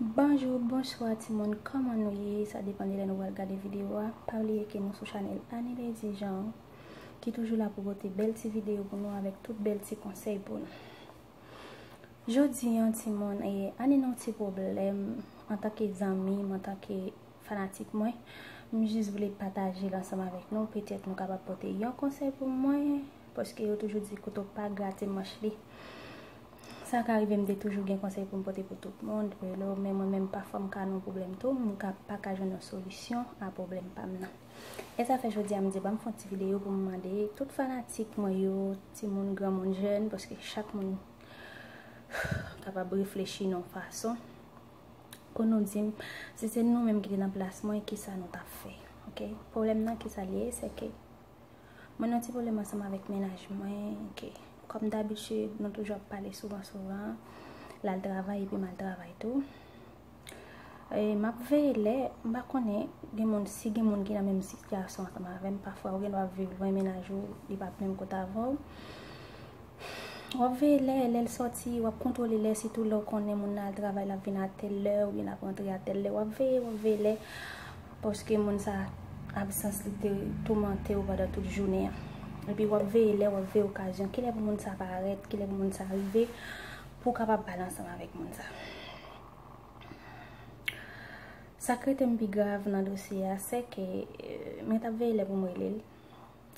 Bonjou, bonswa timoun, kòman nou ye? Sa depan de lè nou pral gade videyo a. Pa bliye ke nou sou chanèl Anilady Jean ki toujou la pou pote bèl ti videyo pou nou avèk tout bèl ti konsèy pou nou. Jodi an timoun, Annie nan yon ti pwoblèm antanke zanmi, antanke Fanatik mwen, m jis vle pataje l ansanm avèk nou, petèt nou kapab pote yon konsèy pou mwen, paske yo toujou di kouto pa grate manch li. Sa ka rive m te toujou gen konsèy pou m pote pou tout moun, relo, men mwen menm pafwa m ka nan yon pwoblèm tou, m ka pa ka jwenn yon solisyon a pwoblèm pa m nan. E sa fè jodi a m di banm fon ti videyo pou m mande tout fanatik mwen yo, timoun, granmoun, jèn, paske chak moun kapab reflechi nan yon fason. pou nou dim si se nou menm ki te nan plas mwen ki sa nou tap fè ok pwoblèm nan ki sa li ye se ke mwen nan ti pwoblèm ansanm avèk menaj mwen ok kòm dabichi nou toujou ap pale souvan souvan lal travay epi mal travay tou e map veye lè mba konnen gen moun si gen moun ki nan menm sityasyon ansanm avèm pafwa ou gen dwa viv lwen menaj ou li pap menm kote avèw Wap veye lè, lè l sòti, wap kontwole lè sitou lè w konnen moun nan al travay lap vin a tèl lè oubyen lap rantre a tèl lè wap veye, wap veye lè paske moun sa absans li te toumante w pandan tout jounen an epi wap veye lè, wap veye okazyon kilè pou moun sa parèt, kilè pou moun sa rive pou w kapab pale ansanm avèk moun sa Sak rete m pi grav nan dosye a sèke mwen tap veye lè pou m rele l.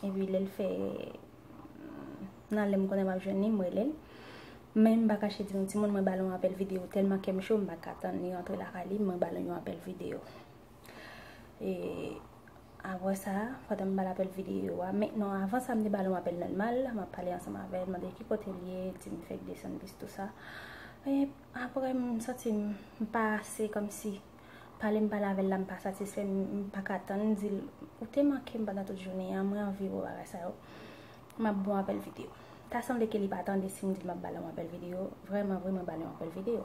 Epi lèl fè nan lèm konnen map jwenn li m relel men m pa kache di nou timoun mwen bal yon apèl video tèlman kèm cho m paka tann li antre lakay li mwen bal yon apèl video e apre sa pandan m bal apèl video a men non avan sa m te bal yon apèl nòmal map pale ansanm avèl mande ki kote l ye di m fèk desann plis tout sa e apre m santi m pa ase kòmsi. Pale m pale avèl la m pa satisfè m paka tann m dil ou te mankem pandan tout jounen an mwen anvi wè w bagay sa yo map bon apèl video ta sanble ke li pa tande sim dil map bale yon apèl video vrèman vre mwen bale yon apèl video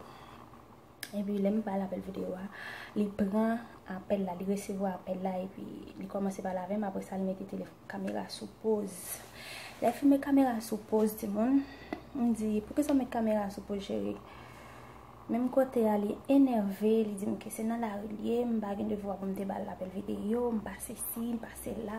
epi lèm bal apèl video a li pran apèl la li resevwa apèl la epi li kòmanse pale avèm aprè sa li mete tele kamera sou poz lèl finn met kamera sou poz timoun m di poukisa w met kamera sou poz cheri. Menm kote a li enève, li di m ke se nan lari li ye, m pa gen devwa pou m te bal apèl videyo, m pa sesi, m pa sela.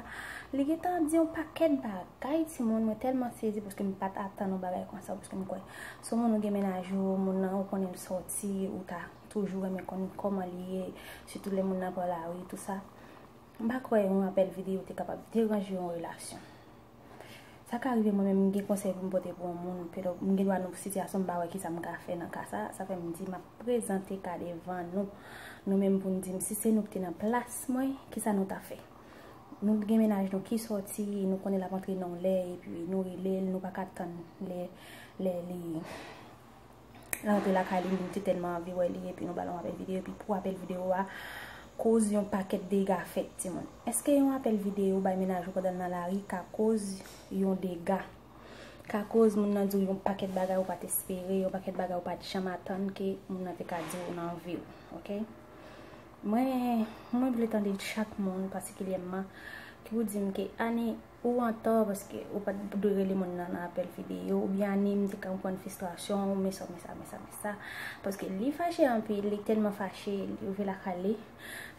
Li gentan di yon pakèt bagay timoun, mwen tèlman sezi paske m pat atann yon bagay konsa paske m kwè se yon moun ou gen mennaj ou, moun nan ou konnen l sòti, ou ta toujou renmen konn kòman li ye, sitou lè moun nan pran lari tou sa. M pa kwè yon apèl videyo te kapab deranje yon relasyon. Sa ka rive mwen menm m gen konsèy pou m pote pou yon moun, pero m gen dwa nan sitiyasyon m pa wè kisa m ka fè nan ka sa, sa fè m di m ap prezante ka devan nou, nou menm pou n di m si se nou ki te nan plas mwen, kisa nou ta fè? Nou gen mennaj nou ki sòti, nou konnen l ap antre nan yon lè epi nou rele l, nou pa ka tann lè li. Lè antre lakay li, li te tèlman anvi wè li epi nou ba l yon apèl videyo epi pou apèl videyo a koz yon pakèt dega fèt timoun. Eske yon apèl videyo bay mennaj ou pandan l nan lari ka koz yon dega? Ka koz moun nan di w yon pakèt bagay ou pa t espere, yon pakèt bagay ou pa t janm atann ke moun nan te ka di w nan vi w. Ok? Mwen vle tande chak moun patikilyèman ki pou di m ke Annie, Ou antò paske ou pat dwe rele moun nan nan apèl video ou byen Annie m te konprann fistrasyon w men sa men sa men sa men sa paske li fache anpil li tèlman fache li rive lakay li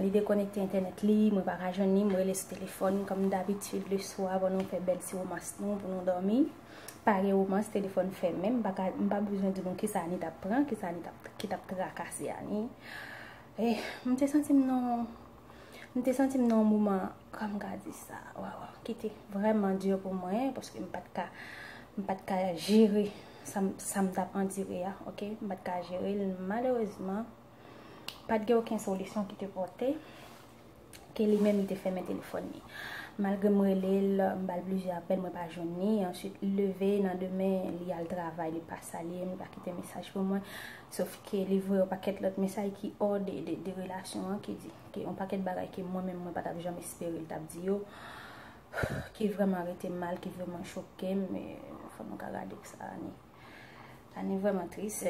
li dekonekte entènèt li mwen pa ka jwenn li m rele sou telefòn kòm dabitid le swa avan nou fè bèl ti romans nou pou nou dòmi pa gen romans telefòn fèmen m pa ka m pa bezwen di nou kisa Annie tap pran kisa Annie tap ki tap trakase Annie eh m te santi m nan yon. M te santi m nan yon moman, kòman m ka di sa, waw, ki te vrèman di pou mwen, paske m pat ka, m pat ka jere sa m t ap andire a, ok, m pat ka jere l, malerezman, pat gen oken solisyon ki te pote, ke li menm li te fèmen telefòn li. Malgre m rele l, m ba l plizyè apèl, mwen pa jwenn li, answit li leve nan demen, li al travay, li pa salye m, li pa kite mesaj pou mwen, Sof ke li voye yon pakèt lòt mesaj ki ò de relasyon an, ki di ke yon pakèt bagay ke mwen menm mwen pa tap janm espere li tap di yo, ki vrèman rete mal, ki vrèman choke m, fò nou ka gade pou sa Annie. Annie vrèman tris,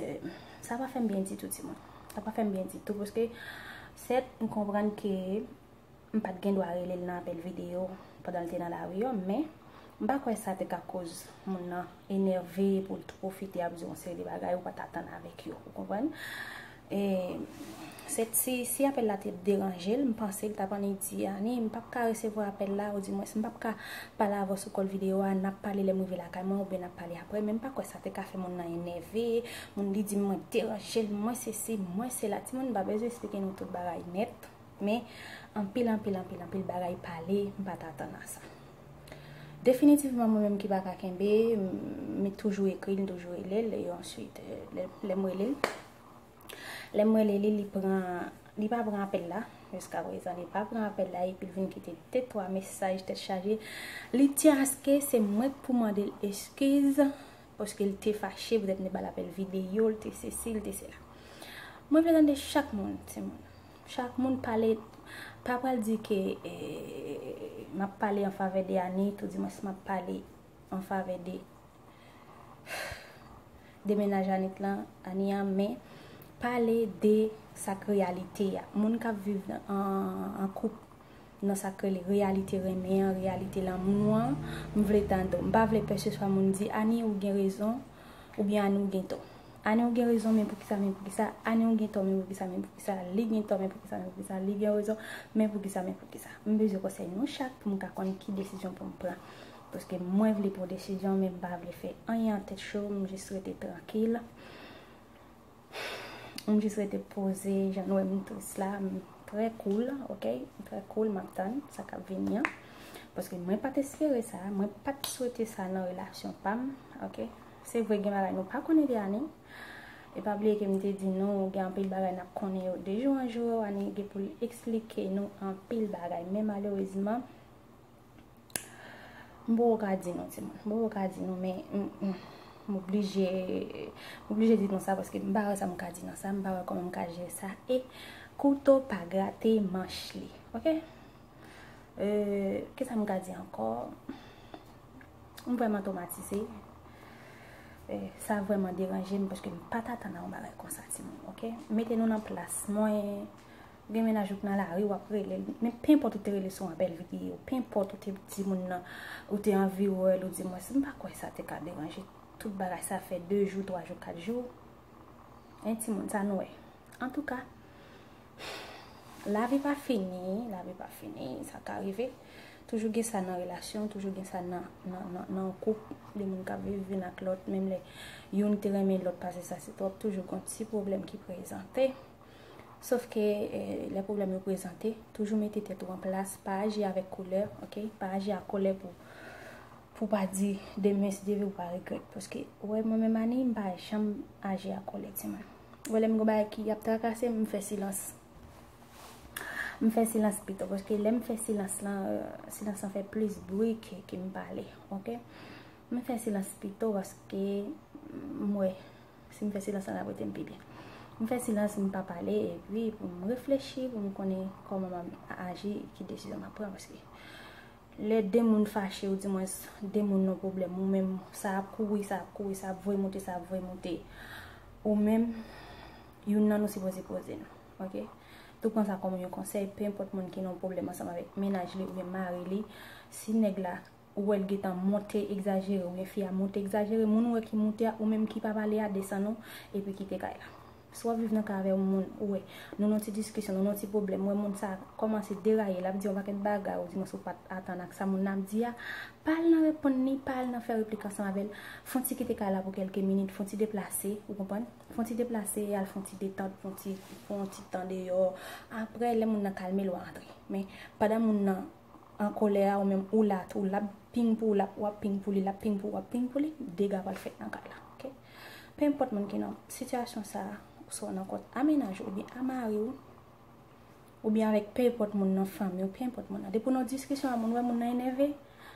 sa pa fè m byen ditou timoun. Sa pa fè m byen ditou, paske sèt m konprann ke M pat gen dwa rele l nan apèl videyo pandan l te nan lari an, men m pa kwè sa te ka koz moun nan enève pou l pwofite ap di w yon seri de bagay ou pat atann avèk yo, ou konprann? E, se ti, si apèl la te deranje l, m panse l t ap annik di, Annie, m pap ka resevwa apèl la, oudimwens, m pap ka pale avè w sou kòl videyo a, n ap pale lè m rive lakay mwen oubyen n ap pale aprè, men m pa kwè sa te ka fè moun nan enève, moun li di m mwen deranje l, mwen sesi, mwen sela, timoun m pa bezwen esplike nou tout bagay nèt. Men, anpil, anpil, anpil, anpil bagay pale, m pa t atann a sa. Definitivman, mwen menm ki pa ka kenbe, m toujou ekri l, m toujou rele l, e answit, lè m rele l, lè m rele li, li pran, li pa pran apèl la, jiska prezan, li pa pran apèl la, epi l vin kite de twa mesaj tèt chaje, li t yan aske se mwen k pou mande l eskiz, paske l te fache, petèt m te ba l apèl videyo, l te sesi, l te sela. Mwen vle tande chak moun, timoun. Chak moun pale pa pral di ke map pale an favè de Anit ou di mwen si map pale an favè de de menaj Anit lan, Ani an men pale de sak reyalite a. Moun kap viv an koup Nan sa k rele reyalite renmen an, reyalite lanmou an, m vle tande w. M pa vle kèlkeswa moun di, Anie ou gen rezon, oubyen Anie ou gen tò. Anie ou gen rezon men poukisa, men poukisa, Anie ou gen tò men poukisa, men poukisa, li gen tò men poukisa, men poukisa, li gen rezon men poukisa, men poukisa. M bezwen konsèy nou chak pou m ka konn ki desizyon pou m pran. Paske mwen vle pran desizyon men m pa vle fè anyen an tèt cho, m jis rete trankil. M jis rete poze jan nou wè m tris la. M trè koul ok. M trè koul m ap tann sa k ap vini an. Paske mwen pa t espere sa. Mwen pa t swete sa nan relasyon pa m ok. Se vre gen bagay nou pa konnen de ane. E pa bliye ke m te di nou gen anpil bagay n ap konnen yo de jou an jou. Ane gen pou l esplike nou anpil bagay. Men malerezman. M poko ka di nou timoun. M poko ka di nou men m oblije m oblije di nou sa paske m pa wè sa m ka di nan sa, m pa wè kòman m ka jere sa e kouto pa grate manch li. Ok? Euh, kisa m ka di ankò? M vrèman twomatize. Sa vrèman deranje m paske m pa t atann a yon bagay konsa timoun. Ok? Mete nou nan plas mwen. Ou gen mennaj ou k nan lari wap relel men penpòt ou te rele sou apèl videyo penpòt ou te di moun nan ou te anvi wèl ou di mwens m pa kwè sa te ka deranje tout bagay sa fè 2 jou 3 jou 4 jou hein timoun sa nou wè antouka lavi pa fini lavi pa fini sa ka rive toujou gen sa nan relasyon toujou gen sa nan nan koup de moun kap viv youn ak lòt menm lè youn te renmen lòt pase sa se twòp toujou gon ti pwoblèm ki prezante. Sof ke lè pwoblèm yo prezante, toujou mete tèt ou an plas, pa aji avèk kolè, ok, pa aji ak kolè pou pou pa di demen si Dye vle pou pa regrèt, paske ou wè mwen menm Anie, m pa janm aji ak kolè timoun. Ou wè lè m gen yon bagay ki ap trakase m, m fè silans. M fè silans pito, paske lè m fè silans lan, silans lan fè plis bri ke m pale, ok. M fè silans pito paske m wè Si m fè silans sa ap rete m pi byen. M fè silans m pa pale epi pou m reflechi pou m konnen kòman m ap aji e ki desizyon m ap pran paske lè 2 moun fache ou di mwens 2 moun nan pwoblèm ou menm sa ap kouri sa ap kouri sa ap voye moute sa ap voye moute ou menm youn nan nou sipoze poze nou ok tou pran sa kòm yon konsèy pe enpòt moun ki nan yon pwoblèm ansanm avèk mennaj li oubyen mari li si nèg la Ou wèl gentan monte egzajere oubyen fi a monte egzajere moun ou wè ki monte a ou menm ki pa pale a desann ou epi kite kay la. Si wap viv nan kay avè yon moun ou wè nou nan ti diskisyon nou nan ti pwoblèm ou wè moun sa kòmanse deraye lap di yon pakèt bagay ou di mwens ou pat atann ak sa moun nan ap di a pa al nan reponn li pa al nan fè replik ansanm avèl fon ti kite kay la pou kèlke minit fon ti deplase ou konprann fon ti deplase al fon ti detant fon ti fon ti tan deyò aprè lè moun nan kalme l wap antre men pandan moun nan an kolè a ou menm ou la tou lap ping pou ou lap wap ping pou li lap ping pou ou wap ping pou li dega pral fèt nan kay la ok pe enpòt moun ki nan sitiyasyon sa ou swa nan kòt a mennaj ou oubyen a mari ou oubyen avèk pe enpòt moun nan fanmi ou pe enpòt moun nan depi ou nan diskisyon a moun wè moun nan enève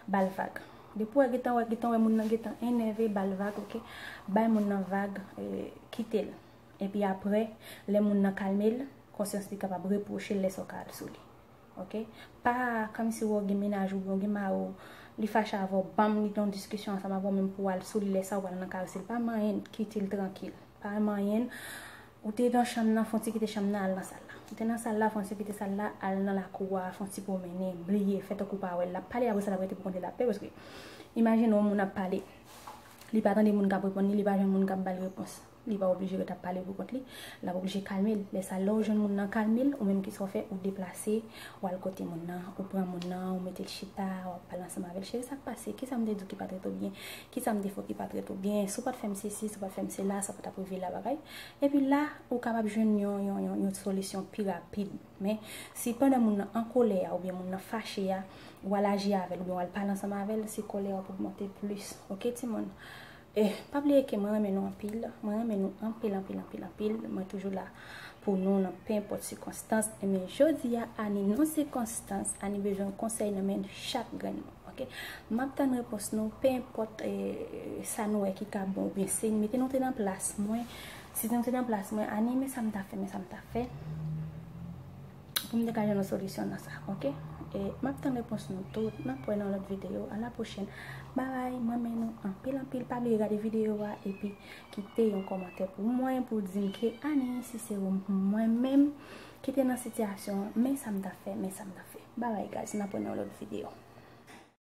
bal vag depi ou wè gentan wè gentan wè moun nan gentan enève bal vag ok bay moun nan vag kitel epi aprè lè moun nan kalmel konsyans li kapab repwochel lè sa ou ka al sou li. Ok pa kòmsi wè w gen mennaj oubyen w gen mari w li fache avè w banm li gen yon diskisyon ansanm avè w menm pou w al sou li lè sa ou pral nan kay ou si l pa manyen n kite l trankil pa manyen n ou te nan chanm nan fon ti kite chanm nan al nan sal la ou te nan sal la fon ti kite sal la al nan lakou a fon ti pwomennen bliye fè tankou w pa wè l lap pale avè w sa lap rete pou kont li lap pè paske imajine yon moun ap pale li pa tande moun kap reponn li li pa jwenn moun kap ba l repons. Li pa oblije ret ap pale pou kont li. L ap oblije kalme l. Lè sa a, lè ou jwenn moun nan kalme l, ou menm ki sa w fè? Ou deplase, ou al kote moun nan, ou pran moun nan, ou mete l chita, w ap pale ansanm avè l, Cheri, sa k pase? Kisa m te di w ki pa t ret ou byen? Kisa m te fè w ki pa t ret ou byen? Si w pa t fè m sesi, si w pa t fè m sela, sa pa t ap rive la, bagay. Epi la, ou kapab jwenn yon, yon, yon, yon solisyon pi rapid. Men, si pandan moun nan an kolè a oubyen moun nan fache a, ou al aji avè l oubyen w al pale ansanm avè l, se kòlè a ap ogmante plis. Oke timoun? Eh pa bliye ke mwen renmen nou anpil, mwen renmen nou anpil anpil anpil anpil, mwen toujou la pou nou nan pe enpòt sikonstans, enben jodi a Annie nan sikonstans, Annie bezwen konsèy nan men chak grenn moun ok, map tann repons nou pe enpòt sa nou wè ki ka bon oubyen se nou, mete nou te nan plas mwen, si nou te nan plas mwen Annie men sa m ta fè men sa m ta fè. Poum te ka jwenn yon solisyon nan sa ok e map tann repons nou tout map wè nan lòt video a la pwochèn bye bye m renmen nou anpil anpil pa bliye gade video a epi kite yon kòmantè pou mwen pou w dim ke ane si se w mwen menm ki te nan sitiyasyon an men sa m ta fè men sa m ta fè bye bye guys map wè nan yon lòt video.